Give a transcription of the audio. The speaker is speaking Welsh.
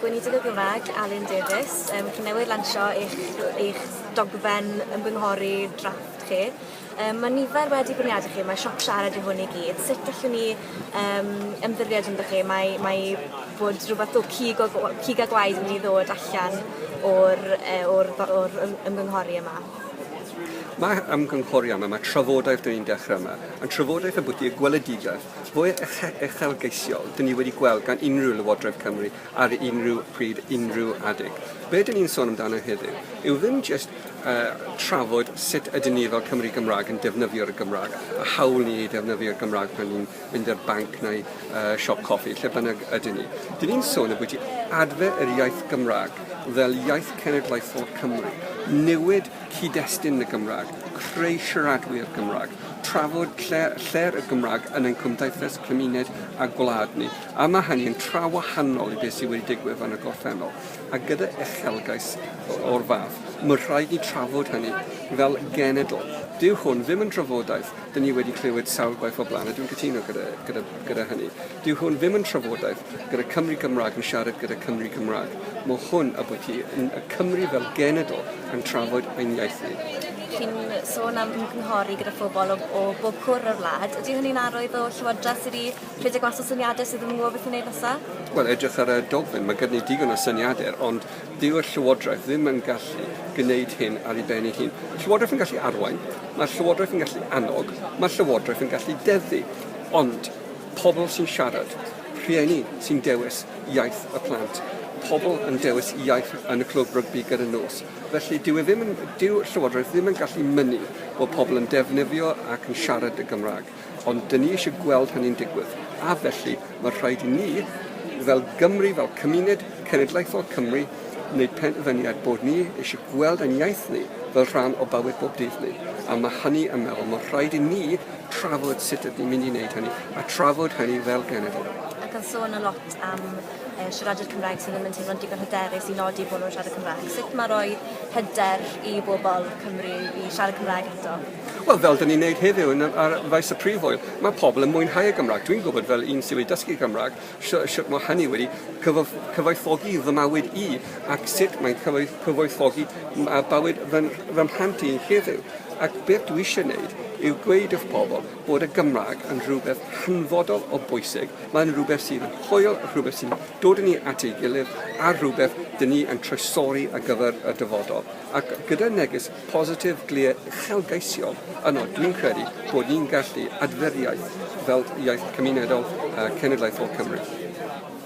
Gweinidog y Gymraeg, Alun Davies, um, chi newydd lansio eich, eich dogfen ymgynghori drafft chi. Um, mae nifer wedi bwniadu chi, mae sioc siarad i hwn i gyd. Sut allwn ni um, ymddiried ynddo chi? Mae, mae bod rhywbeth o cig, o, cig a gwaed yn mynd i ddod allan o'r, e, or, or ymgynghori yma. Mae ymgynghori yma, mae trafodaeth dyn ni'n dechrau yma, yn trafodaeth y bwyty y gweledigaeth Mwy uchelgeisiol, dyn ni wedi gweld gan unrhyw Lywodraeth Cymru ar unrhyw pryd, unrhyw adeg. Be dyn ni'n sôn amdano heddiw yw ddim jyst uh, trafod sut ydyn ni fel Cymru Gymraeg yn defnyddio'r Gymraeg, a hawl ni i defnyddio'r Gymraeg pan ni'n mynd i'r banc neu uh, siop coffi, lle bynnag ydyn ni. Dyn ni'n sôn y bwyty adfer yr iaith Gymraeg fel iaith cenedlaethol Cymru, newid cyd-destun y Gymraeg, creu siaradwyr Cymraeg, trafod lle, lle'r y Gymraeg yn ein cymdeithas, cymuned a gwlad ni. A mae hynny'n tra wahanol i beth sydd wedi digwydd yn y gorffennol. A gyda uchelgais o'r fath, mae'n rhaid ni trafod hynny fel genedl. Dyw hwn ddim yn drafodaeth, dyn ni wedi clywed sawl gwaith o blaen, a dwi'n cytuno gyda, gyda, gyda hynny. Dyw hwn ddim yn trafodaeth gyda Cymry Cymraeg yn siarad gyda Cymry Cymraeg. Mae hwn a bod hi yn y Cymry fel genedl yn trafod ein iaith ni chi'n sôn am ymgynghori gyda phobl o, o bob cwr o'r wlad. Ydy hynny'n arwydd o llywodraeth sydd wedi rhedeg mas o syniadau sydd ddim yn gwybod beth i wneud nesaf? Wel, edrych ar y dogfen, mae gyda ni digon o syniadau, ond dyw'r llywodraeth ddim yn gallu gwneud hyn ar ei ben ei hun. Llywodraeth yn gallu arwain, mae'r llywodraeth yn gallu annog, mae'r llywodraeth yn gallu deddu. Ond Pobl sy'n siarad, rhieni sy'n dewis iaith y plant, pobl yn dewis iaith yn y clwb rygbi gyda'r nos. Felly, dyw e ddim yn... dyw Llywodraeth ddim yn gallu mynnu bod pobl yn defnyddio ac yn siarad y Gymraeg, ond 'dyn ni eisiau gweld hynny'n digwydd, a felly, mae'n rhaid i ni, fel Gymry, fel cymuned cenedlaethol Cymru, wneud penderfyniad bod ni eisiau gweld ein iaith ni fel rhan o bywyd bob dydd ni, a mae hynny yn meddwl, mae'n rhaid i ni, trafod sut ydyn ni'n mynd i wneud hynny, a trafod hynny fel genedl. Ac yn sôn yn lot am e, siaradwyr Cymraeg sydd ddim yn teimlo'n digon hyderus i nodi bod nhw'n siarad Cymraeg. Sut mae rhoi hyder i bobl Cymru i siarad Cymraeg eto? Wel, fel dyn ni'n gwneud heddiw yn, ar faes y prif oel, mae pobl yn mwynhau y Gymraeg. Dwi'n gwybod fel un sydd wedi dysgu Cymraeg, Sut mae hynny wedi cyfoethogi fy mywyd i ac sut mae'n cyfoethogi bywyd fy mhlant i heddiw. Ac beth dwi eisiau wneud yw gweud wrth pobl bod y Gymraeg yn rhywbeth hanfodol o bwysig, mae'n rhywbeth sydd yn hwyl, rhywbeth sy'n dod â ni at ei gilydd a rhywbeth dyn ni yn troisori ar gyfer y dyfodol. Ac gyda neges positif glir uchelgeisiol yno, dwi'n credu bod ni'n gallu adfer iaith fel iaith cymunedol a cenedlaethol Cymru.